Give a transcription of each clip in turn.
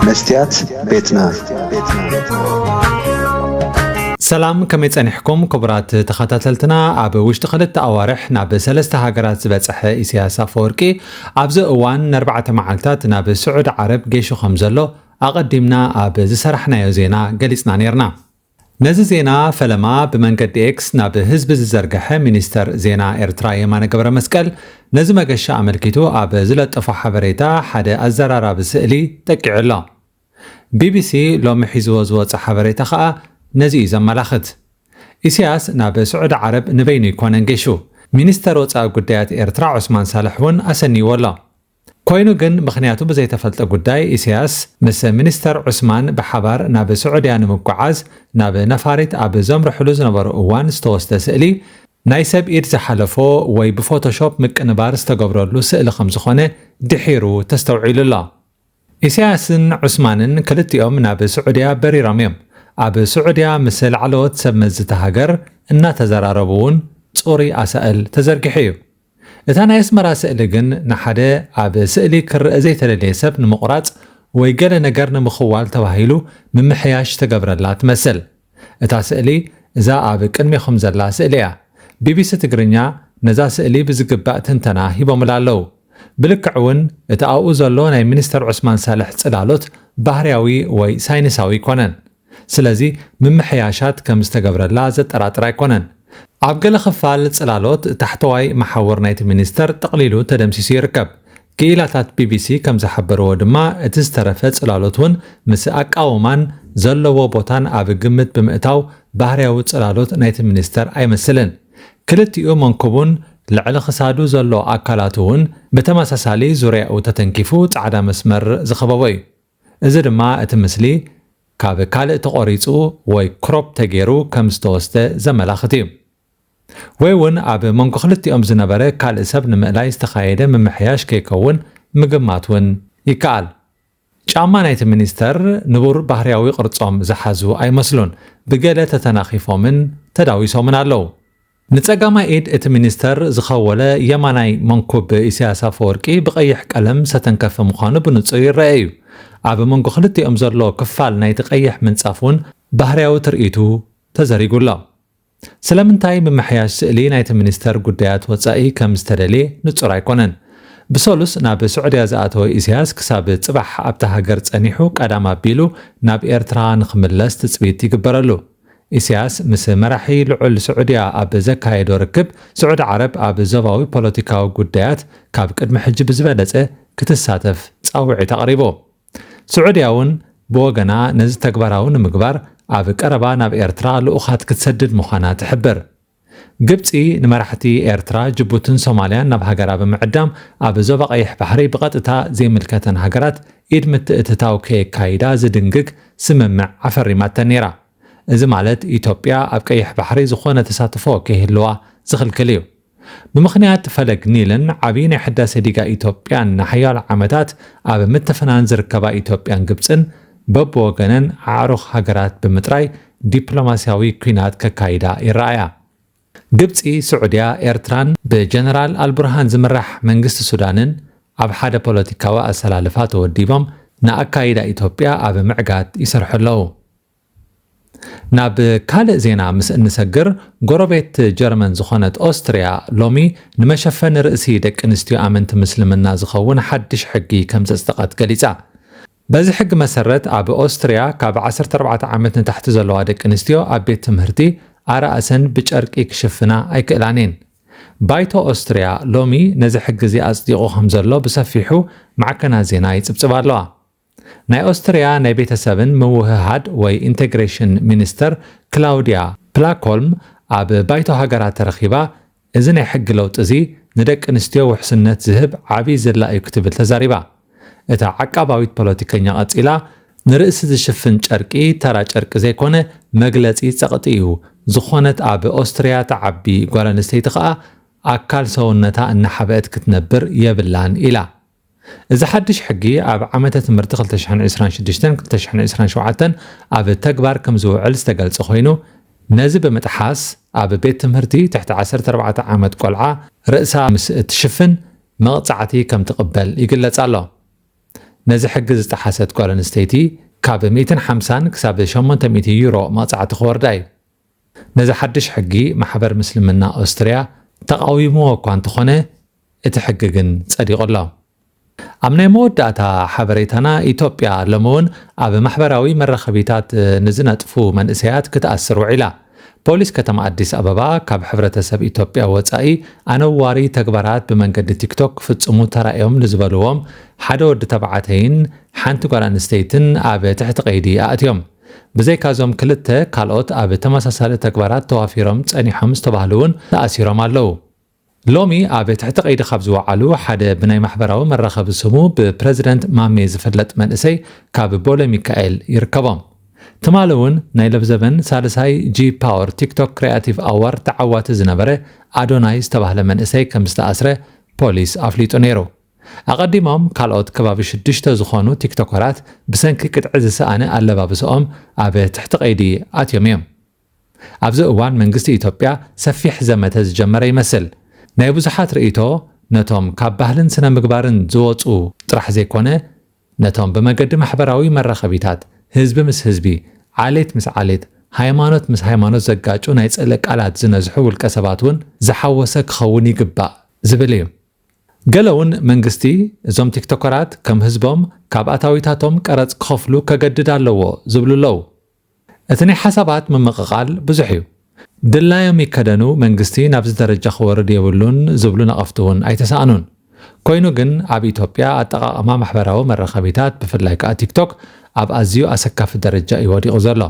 መስትያት ቤትና ሰላም ከመይ ጸኒሕኩም ክቡራት ተኸታተልትና ኣብ ውሽጢ ክልተ ኣዋርሕ ናብ ሰለስተ ሃገራት ዝበጽሐ ኢሳያስ ኣፈወርቂ ኣብዚ እዋን ንኣርባዕተ መዓልታት ናብ ስዑድ ዓረብ ጌሹ ከም ዘሎ ኣቐዲምና ኣብ ዝሰራሕናዮ ዜና ገሊጽና ነርና ነዚ ዜና ፈለማ ብመንገዲ ኤክስ ናብ ህዝቢ ዝዘርገሐ ሚኒስተር ዜና ኤርትራ የማነ ገብረመስቀል፣ ነዚ መገሻ ኣመልኪቱ ኣብ ዝለጠፎ ሓበሬታ ሓደ ኣዘራራቢ ስእሊ ጠቂዑ ኣሎ። ቢቢሲ ሎሚ ሒዝዎ ዝወጸ ሓበሬታ ከኣ ነዚ እዩ ዘመላኽት። ኢሲያስ ናብ ስዑዲ ዓረብ ንበይኑ ኣይኮነን ገሹ። ሚኒስተር ወጻኢ ጉዳያት ኤርትራ ዑስማን ሳልሕ እውን ኣሰንይዎ ኣሎ። ኮይኑ ግን ምኽንያቱ ብዘይተፈልጠ ጉዳይ ኢሳያስ ምስ ሚኒስተር ዑስማን ብሓባር ናብ ስዑድያ ንምጉዓዝ ናብ ነፋሪት ኣብ ዘምርሕሉ ዝነበሩ እዋን ዝተወስደ ስእሊ ናይ ሰብ ኢድ ዝሓለፎ ወይ ብፎቶሾፕ ምቅንባር ዝተገብረሉ ስእሊ ከምዝኾነ ድሒሩ ተስተውዒሉ ኣሎ። ኢሳያስን ዑስማንን ክልቲኦም ናብ ስዑድያ በሪሮም እዮም። ኣብ ስዑድያ ምስ ላዕለዎት ሰብ መዚ እታ ሃገር እናተዘራረቡ እውን ፅሩይ ኣሳእል ተዘርጊሑ እዩ። እታ ናይ ኣስመራ ስእሊ ግን ንሓደ ኣብ ስእሊ ክረኣ ዘይተደለየ ሰብ ንምቑራጽ ወይ ገለ ነገር ንምኽዋል ተባሂሉ ምምሕያሽ ዝተገብረላ ትመስል። እታ ስእሊ እዛ ኣብ ቅድሜኹም ዘላ ስእሊ እያ። ቢቢሲ ትግርኛ ነዛ ስእሊ ብዝግባእ ትንተና ሂቦምላ ኣለዉ። ብልክዕ እውን እቲ ኣብኡ ዘሎ ናይ ሚኒስተር ዑስማን ሳልሕ ጽላሎት ባህርያዊ ወይ ሳይንሳዊ ኣይኮነን። ስለዚ ምምሕያሻት ከም ዝተገብረላ ዘጠራጥር ኣይኮነን። ኣብ ገለ ክፋል ጽላሎት፣ ታሕተዋይ መሓውር ናይቲ ሚኒስተር ጠቕሊሉ ተደምሲሱ ይርከብ። ክኢላታት ቢቢሲ ከም ዝሓበርዎ ድማ፣ እቲ ዝተረፈ ጽላሎት እውን ምስ ኣቃውማን ዘለዎ ቦታን ኣብ ግምት ብምእታው ባህርያዊ ጽላሎት ናይቲ ሚኒስተር ኣይመስልን። ክልቲኡ መንኩቡን ልዕሊ ክሳዱ ዘሎ ኣካላቱ እውን ብተመሳሳሊ ዙርያኡ ተተንኪፉ ጻዕዳ መስመር ዝኸበቦ እዩ። እዚ ድማ እቲ ምስሊ ካብ ካልእ ተቖሪጹ ወይ ክሮፕ ተገይሩ ከም ዝተወስደ ዘመላኽት እዩ። ወይ እውን ኣብ መንጎ ክልቲኦም ዝነበረ ካልእ ሰብ ንምእላይ ዝተኻየደ ምምሕያሽ ከይከውን ምግማት እውን ይከኣል። ጫማ ናይቲ ሚኒስተር ንቡር ባህርያዊ ቅርጾም ዝሓዙ ኣይመስሉን፣ ብገለ ተተናኺፎምን ተዳዊሶምን ኣለዉ። ንጸጋማይ ኢድ እቲ ሚኒስተር ዝኸወለ የማናይ መንኩብ ኢሳያስ ኣፈወርቂ ብቀይሕ ቀለም ሰተንከፈ ምዃኑ ብንጹር ይረኣ ኢዩ። ኣብ መንጎ ክልቲኦም ዘሎ ክፋል ናይቲ ቀይሕ ምንጻፍ እውን ባህርያዊ ትርኢቱ ተዘሪጉ ኣሎ። ስለምንታይ ምምሕያሽ ስእሊ ናይቲ ሚኒስተር ጉዳያት ወጻኢ ከም ዝተደልየ ንጹር ኣይኮነን። ብሰሉስ ናብ ስዑድያ ዝኣተወ ኢሳያስ ክሳብ ጽባሕ ኣብታ ሃገር ጸኒሑ ቀዳም ኣቢሉ ናብ ኤርትራ ንክምለስ ትጽቢት ይግበረሉ። ኢሳያስ ምስ መራሒ ልዑል ስዑድያ ኣብ ዘካየዶ ርክብ፣ ስዑዲ ዓረብ ኣብ ዞባዊ ፖለቲካዊ ጉዳያት ካብ ቅድሚ ሕጂ ብዝበለጸ ክትሳተፍ ጻውዒት ኣቕሪቡ። ስዑድያ'ውን ብወገና ነዚ ተግባራዊ ንምግባር ኣብ ቀረባ ናብ ኤርትራ ልኡኻት ክትሰድድ ምዃና ትሕብር። ግብጺ ንመራሕቲ ኤርትራ፣ ጅቡትን ሶማልያን ናብ ሃገራ ብምዕዳም ኣብ ዞባ ቀይሕ ባሕሪ ብቐጥታ ዘይምልከተን ሃገራት ኢድ ምትእትታው ከየካይዳ ዝድንግግ ስምምዕ ኣፈሪማተን ነይራ። እዚ ማለት ኢትዮጵያ ኣብ ቀይሕ ባሕሪ ዝኾነ ተሳትፎ ከይህልዋ ዝኽልክል እዩ። ብምኽንያት ፈለግ ኒልን ዓብዪ ናይ ሕዳሴ ዲጋ ኢትዮጵያን ንሓያሎ ዓመታት ኣብ ምትፍናን ዝርከባ ኢትዮጵያን ግብጽን በብወገነን ኣዕሩኽ ሃገራት ብምጥራይ ዲፕሎማስያዊ ኲናት ከካይዳ ይረኣያ። ግብጺ፣ ስዑድያ፣ ኤርትራን ብጀነራል ኣልቡርሃን ዝምራሕ መንግስቲ ሱዳንን ኣብ ሓደ ፖለቲካዊ ኣሰላልፋ ተወዲቦም ንኣካይዳ ኢትዮጵያ ኣብ ምዕጋት ይሰርሑ ኣለዉ። ናብ ካልእ ዜና ምስ እንሰግር፣ ጎረቤት ጀርመን ዝኾነት ኦስትርያ ሎሚ ንመሸፈኒ ርእሲ ደቂ ኣንስትዮ ኣመንቲ ምስልምና ዝኸውን ሓድሽ ሕጊ ከምዘጽደቐት ገሊጻ። በዚ ሕጊ መሰረት ኣብ ኦስትርያ ካብ ዓሰርተ ኣርባዕተ ዓመት ንታሕቲ ዘለዋ ደቂ ኣንስትዮ ኣብ ቤት ትምህርቲ ኣርእሰን ብጨርቂ ክሽፍና ኣይክእላን እየን። ባይቶ ኦስትርያ ሎሚ ነዚ ሕጊ እዚ ኣጽዲቑ ከምዘሎ ብሰፊሑ ማዕከናት ዜና ይጽብጽባ ኣለዋ። ናይ ኦስትርያ ናይ ቤተሰብን ምውህሃድ ወይ ኢንተግሬሽን ሚኒስተር ክላውድያ ፕላኮልም ኣብ ባይቶ ሃገራት ተረኺባ እዚ ናይ ሕጊ ለውጢ እዚ ንደቂ ኣንስትዮ ውሕስነት ዝህብ ዓብዪ ዝላ እዩ ክትብል ተዛሪባ። እታ ዓቃባዊት ፖለቲከኛ ቀፂላ፣ ንርእሲ ዝሽፍን ጨርቂ ተራ ጨርቂ ዘይኮነ መግለፂ ፀቕጢ እዩ፣ ዝኾነት ኣብ ኦስትሪያ ትዓቢ ጓል ኣንስተይቲ ኸኣ ኣካል ሰውነታ እናሓበእት ክትነብር የብላን ኢላ። እዚ ሓድሽ ሕጊ ኣብ ዓመተ ትምህርቲ ክልተ ሽሕን ዕስራን ሽዱሽተን ክልተ ሽሕን ዕስራን ሸውዓተን ኣብ ተግባር ከምዝውዕል ዝተገልጸ ኮይኑ፣ ነዚ ብምጥሓስ ኣብ ቤት ትምህርቲ ትሕቲ ዓሰርተ ኣርባዕተ ዓመት ቆልዓ ርእሳ ምስ እትሽፍን መቕጻዕቲ ከምትቕበል ይግለጽ ኣሎ። ነዚ ሕጊ ዝጠሓሰት ጓል ኣንስተይቲ ካብ ሚእትን ሓምሳን ክሳብ ሸሞንተ ሚእቲ ዩሮ መቕጻዕቲ ክወርዳ እዩ። ነዚ ሓድሽ ሕጊ ማሕበር ምስልምና ኦስትርያ ተቓዊምዎ እኳ እንተኾነ እቲ ሕጊ ግን ጸዲቑ ኣሎ። ኣብ ናይ መወዳእታ ሓበሬታና ኢትዮጵያ ሎሚ እውን ኣብ ማሕበራዊ መራኸቢታት ንዝነጥፉ መንእሰያት ክትኣስር ውዒላ። ፖሊስ ከተማ ኣዲስ ኣበባ ካብ ሕብረተሰብ ኢትዮጵያ ወጻኢ ኣነዋሪ ተግባራት ብመንገዲ ቲክቶክ ክፍጽሙ ተራእዮም ንዝበልዎም ሓደ ወዲ ተባዕተይን ሓንቲ ጓል ኣንስተይትን ኣብ ትሕቲ ቀይዲ ኣእትዮም። ብዘይካ'ዞም ክልተ፣ ካልኦት ኣብ ተመሳሳሊ ተግባራት ተዋፊሮም ጸኒሖም ዝተባህሉ'ውን ተኣሲሮም ኣለዉ። ሎሚ ኣብ ትሕቲ ቀይዲ ካብ ዝወዓሉ፣ ሓደ ብናይ ማሕበራዊ መራኸቢ ስሙ ብፕረዚደንት ማሜ ዝፍለጥ መንእሰይ ካብ ቦሌሚካኤል ይርከቦም። ትማሊ'ውን ናይ ለብዘበን ሳልሳይ ጂ-ፓወር ቲክቶክ ክሪኣቲቭ ኣዋርድ ተዓዋቲ ዝነበረ ኣዶናይ ዝተባህለ መንእሰይ ከምዝተኣስረ ፖሊስ ኣፍሊጡ ነይሩ። ኣቐዲሞም ካልኦት ከባቢ ሽዱሽተ ዝኾኑ ቲክቶከራት ብሰንኪ ቅጥዒ ዝሰኣነ ኣለባብሰኦም ኣብ ትሕቲ ቀይዲ ኣትዮም እዮም። ኣብዚ እዋን መንግስቲ ኢትዮጵያ ሰፊሕ ዘመተ ዝጀመረ ይመስል። ናይ ብዙሓት ርእይቶ ነቶም ካብ ባህልን ስነ-ምግባርን ዝወጹ ጥራሕ ዘይኮነ ነቶም ብመገዲ ማሕበራዊ መራኸቢታት ህዝቢ ምስ ህዝቢ፣ ዓሌት ምስ ዓሌት፣ ሃይማኖት ምስ ሃይማኖት ዘጋጩ ናይ ጽልኢ ቃላት ዝነዝሑ ውልቀሰባት እውን ዝሓወሰ ክኸውን ይግባእ ዝብል እዩ። ገለ ውን መንግስቲ እዞም ቲክቶከራት ከም ህዝቦም ካብ ኣታዊታቶም ቀረጽ ክኸፍሉ ከገድድ ኣለዎ ዝብሉ ኣለዉ። እቲ ናይ ሓሳባት ምምቕቓል ብዙሕ ዩ። ድላዮም ይከደኑ መንግስቲ ናብዚ ደረጃ ክወርድ የብሉን ዝብሉ ነቐፍቲ ውን ኣይተሳእኑን። ኮይኑ ግን ኣብ ኢትዮጵያ ኣጠቓቕማ ማሕበራዊ መራኸቢታት ብፍላይ ከኣ ቲክቶክ ኣብ ኣዝዩ ኣሰካፊ ደረጃ ዩ ወዲቑ ዘሎ።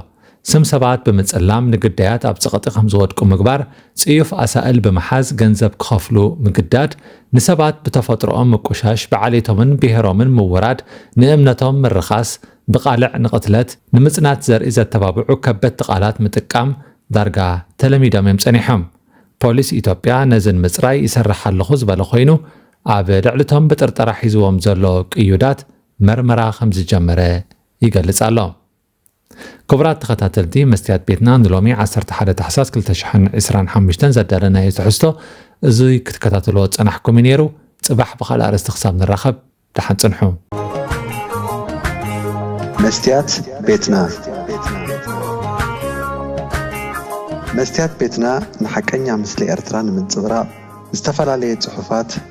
ስም ሰባት ብምጽላም ንግዳያት ኣብ ጸቕጢ ከም ዝወድቁ ምግባር፣ ጽዩፍ ኣሳእል ብምሓዝ ገንዘብ ክኸፍሉ ምግዳድ፣ ንሰባት ብተፈጥሮኦም ምቁሻሽ፣ ብዓሌቶምን ብሄሮምን ምውራድ፣ ንእምነቶም ምርኻስ፣ ብቓልዕ ንቕትለት፣ ንምጽናት ዘርኢ ዘተባብዑ ከበድቲ ቃላት ምጥቃም ዳርጋ ተለሚዶም እዮም ጸኒሖም። ፖሊስ ኢትዮጵያ ነዚ ንምጽራይ ይሰርሕ ኣለኹ ዝበለ ኮይኑ፣ ኣብ ልዕሊ'ቶም ብጥርጠራ ሒዝዎም ዘሎ ቅዩዳት መርመራ ከም ዝጀመረ ይገልጽ ኣሎ። ክቡራት ተኸታተልቲ መስትያት ቤትና ንሎሚ ዓሰርተ ሓደ ታሕሳስ ክልተ ሽሕን ዕስራን ሓሙሽተን ዘዳለናዮ ትሕዝቶ እዙይ ክትከታተልዎ ዝጸናሕኩም እዩ ነይሩ። ጽባሕ ብኻልእ ኣርእስቲ ክሳብ ንራኸብ ደሓን ጽንሑ። መስትያት ቤትና መስትያት ቤትና ንሓቀኛ ምስሊ ኤርትራ ንምንጽብራቕ ዝተፈላለየ ጽሑፋት